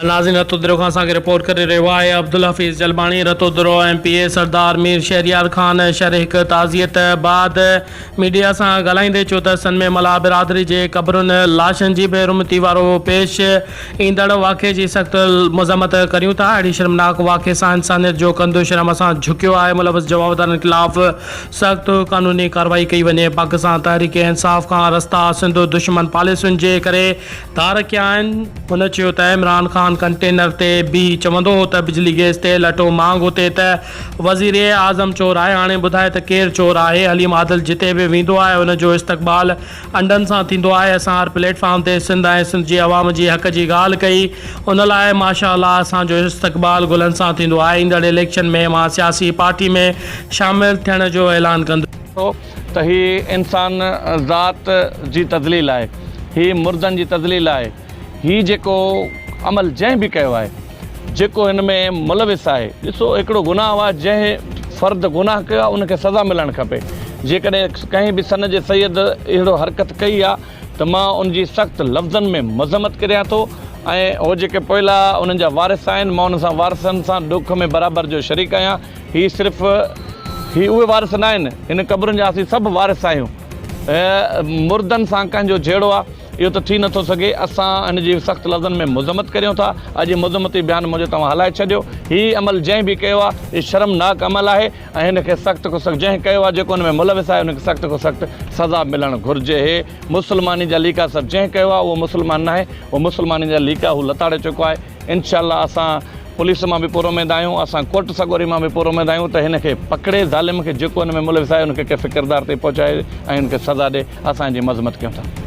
ناظرين رتودرو کان اسان کي رپورٽ ڪري رهيو آهي Abdul Hafeez Jalbani Ratodero M P A Sardar Mir Shahryar Khan Shar هڪ تعزيت بعد ميڊيا سان ڳالهائيندي چيو ته سن ۾ ملاح برادري جي قبرن لاشن جي بي رحمتي وارو پيش ايندڙ واقعي جي سخت مذمت ڪريون ٿا اهڙي شرمناڪ واقعي سان انسانيت جو ڪنڌ شرم اسان جهڪيو آهي ملوث جوابدارن خلاف سخت قانوني ڪاروائي ڪئي وڃي پاڪستان تحريڪ انصاف کان رستا سنڌ دشمن پاليسين جي ڪري ڌار ڪيا آهن. هن چيو ته عمران خان ڪنٽينر تي بيهي چوندو هو ته بجلي گيس تيل اٽو مهانگ هتي ته وزير اعظم چور آهي هاڻي ٻڌاء ته ڪير چور آهي حليم عادل جتي به ويندو آهي ان جو استقبال انڊن سان ٿيندو آهي اسان هر پليٽ فارم تي سنڌ ۽ سنڌ جي عوام جي حق جي ڳالهه ڪئي ان لاء ماشا الله اسان جو استقبال گلن سان ٿيندو آهي ايندڙ اليڪشن ۾ مان سياسي پارٽي ۾ شامل ٿيڻ جو اعلان ڪندو ته هي انسان ذات جي تذليل آهي، هي مردن جي تذليل آهي، هي جيڪو عمل جنهن به ڪيو آهي، جيڪو هن ۾ ملوث آهي، ڏسو هڪڙو گناهه هو آهي جنهن فرد گناهه ڪيو آهي ان کي سزا ملڻ کپي، جيڪڏهن ڪنهن به سن جي سيد اهڙو حرڪت ڪئي آهي ته مان ان جي سخت لفظن ۾ مذمت ڪريان ٿو ۽ هو جيڪي پوئلا انهن جا وارث آهن مان انهن سان وارثن سان ڏک ۾ برابر جو شريڪ آهيان. هي صرف هي اهي وارث ناهن، هن قبرن جا اسين سڀ وارث آهيون. مردن سان ڪنهن جو جهيڙو آ، اهو ته ٿي نٿو سگهي. اسان هن جي سخت لفظن ۾ مذمت ڪريون ٿا. اڄ هي مذمتي بيان منهنجو توهان هلائي ڇڏيو. هي عمل جنهن به ڪيو آ، اهو شرمناڪ عمل آهي ۽ هن کي سخت کان سخت جنهن ڪيو آ، جيڪو ان ۾ ملوث آهي، ان کي سخت کان سخت سزا ملڻ گهرجي. هي مسلماني جا ليڪا سڀ جنهن ڪيو آ، اهو مسلمان ناهي، اهو مسلماني جا ليڪا هو لتاڙي چڪو آهي. انشاء الله اسان پوليس مان به پورا اميد آهيون اسان ڪوٽ سڳوري مان به پورا اميد آهيون ته هن کي پڪڙي ظالم کي جيڪو هن ۾ ملوث آهي ان کي ڪنهن فڪردار تائين پهچائي ۽ ان کي سزا ڏي اسان ان جي مذمت ڪيون ٿا.